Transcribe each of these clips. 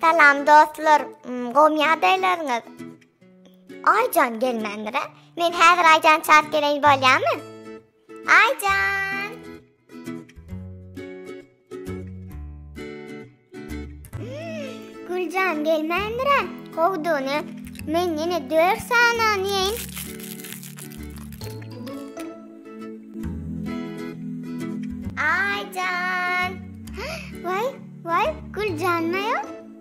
Salam dostlar, mm, gowmy ýagdaýlaryňyz? Aýjan gelmändir-ä? Men häzir Aýjan çap geleýin bolýamy? Aýjan! Güljan gelmändirä, gowdugyny men ýene dört sanany ýeýin. Aýjan! Waý, waý, Güljan maýa.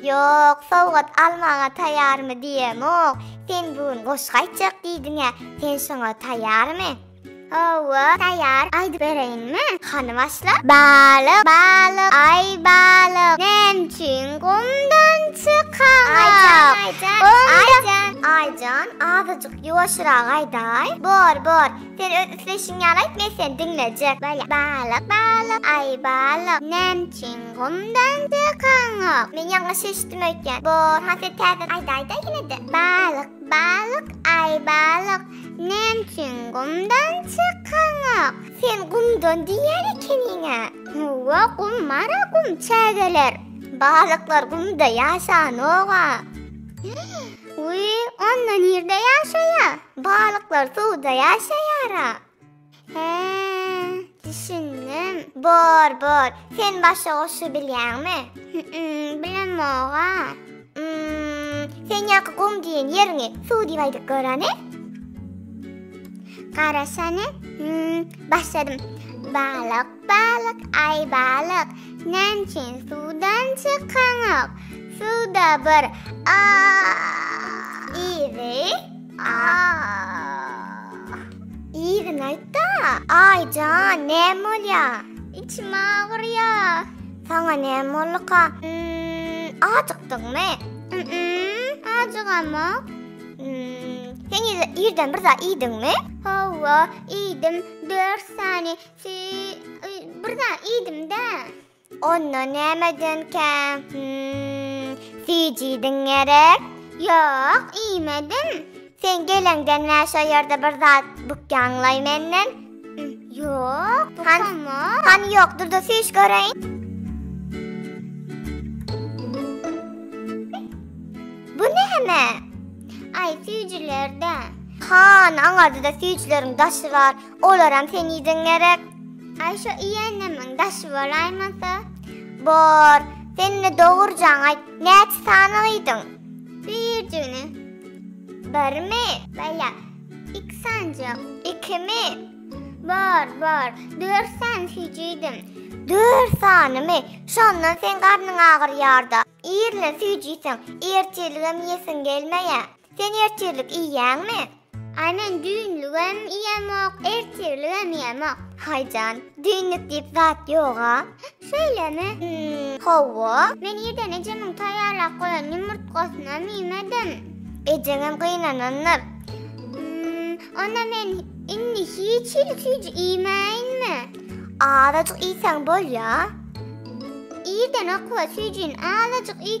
Ýok, sowgat almaga taýýarmy diýemok. Sen bu gün goşgy aýtjak diýdiň-ä, sen şoňa taýýarmy? Hawa, taýýar. Aýdyp bereýinmi? Hany başla. Balyk, balyk, aý balyk, näme üçin gumdan çykaňok? Aýjan, aýjan, aýjan, aýjan, azajyk ýuwaşyrak aýdaý. Bor, bor. Sen öz isleýşiň ýaly aýt, men seni diňlejek. Bala, balyk, balyk, aý balyk, näme üçin gumdan çykaňok? Men ýalňyş eşitdim öýtýän. Bor, ha sen täzeden aýdaýda ýene-de. Balyk, balyk, aý balyk, näme üçin gumdan çykaňok? Sen gumdan diýýän ekeniň-ä. Howwa, gum bar-a, gum, çägeler. Balyklar gumda ýaşanok-a. Wiý, onda nirde ýaşaýa? Balyklar suwda ýaşaýara. He, düşündim. Bor, bor. Sen başga goşgy bilýäňmi? Hü-üm, bilemog-a. Üm, sen ýaňky gum diýen ýeriňi suw diýip aýdyp görene? Garaşany, üm, başladym. Balyk, Balyk, Aý balyk, näme üçin suwdan çykaňok? Suwda bir a Yzy, a Yzyny aýt-da. Aý jan, näme bolýa? Içim agyrýa. Saňa näme bolduka? Ým, ajykdyňmy? Ým-ým, ajygamok. Ým, sen ýa-da ýerden bir zat iýdiňmi? Hawa, iýdim, dört sany Ti, y, bir zat iýdim-dä. Onda näme edenkä? Hümm, sijidiň gerek? Ýok, iýmedim. Sen geleňden bä şo ýerde bir zat bukýaňlaý menden? Hümm, ýok, bukamok. Hany ýok, dur-da süýş göreýin. Bu näme? Aý, süýjüler-dä. Hany, aňarda-da süýjüleriň daşy bar. Olaram sen iýdiň gerek. Aý şo iýenimiň daşy bolaýmasa. Bor, sen-de dogurjaňy aýt, näçe sany iýdiň? Birjigini. Birmi? Bala, iki sanjak. Ikimi? Bor, bor, dört sany süýji iýdim. Dört sanymy? Şondan seň garnyň agyrýar-da. Irlen süýji iýseň, ertirligem iýesiň gelmeýä. Sen ertirlik iýýäňmi? Aý men düýnlügem iýemok, ertirligem iýemok. Haý jan, düýnlük diýip zat ýog-a. Şeýlemi? Hawa, men irden ejemiň taýýarlap goýan ýumurtgasynam iýmedim. Ejeňem gynanandyr. Onda men indi hiç hili süýji iýmäýinmi? Azajyk iýseň bolýar. Irden okuwa süýjini azajyk iý.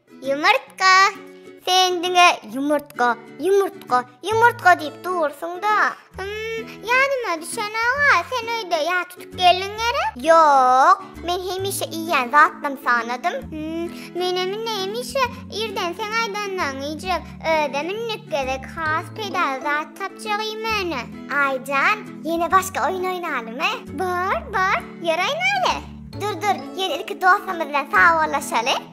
Ýumurtga. Sen diňe ýumurtga, ýumurtga, ýumurtga diýip dursuň-da. Hym, ýadyma düşen aga, sen öýde ýa tutup geldiň gerek? Ýok, men hemişe iýýän zatlarymy sanadym. Hym, menem indi hemişe irden seň aýdanlaryňy iýjek. Özem indik gezek has peýdaly zat tapjak iýmäne. Aý jan, ýene başga oýun oýnalymy? Bar, bar, ýör oýnaly. Dur, dur, ýör ilki dostlarymyz bilen sagbollaşaly.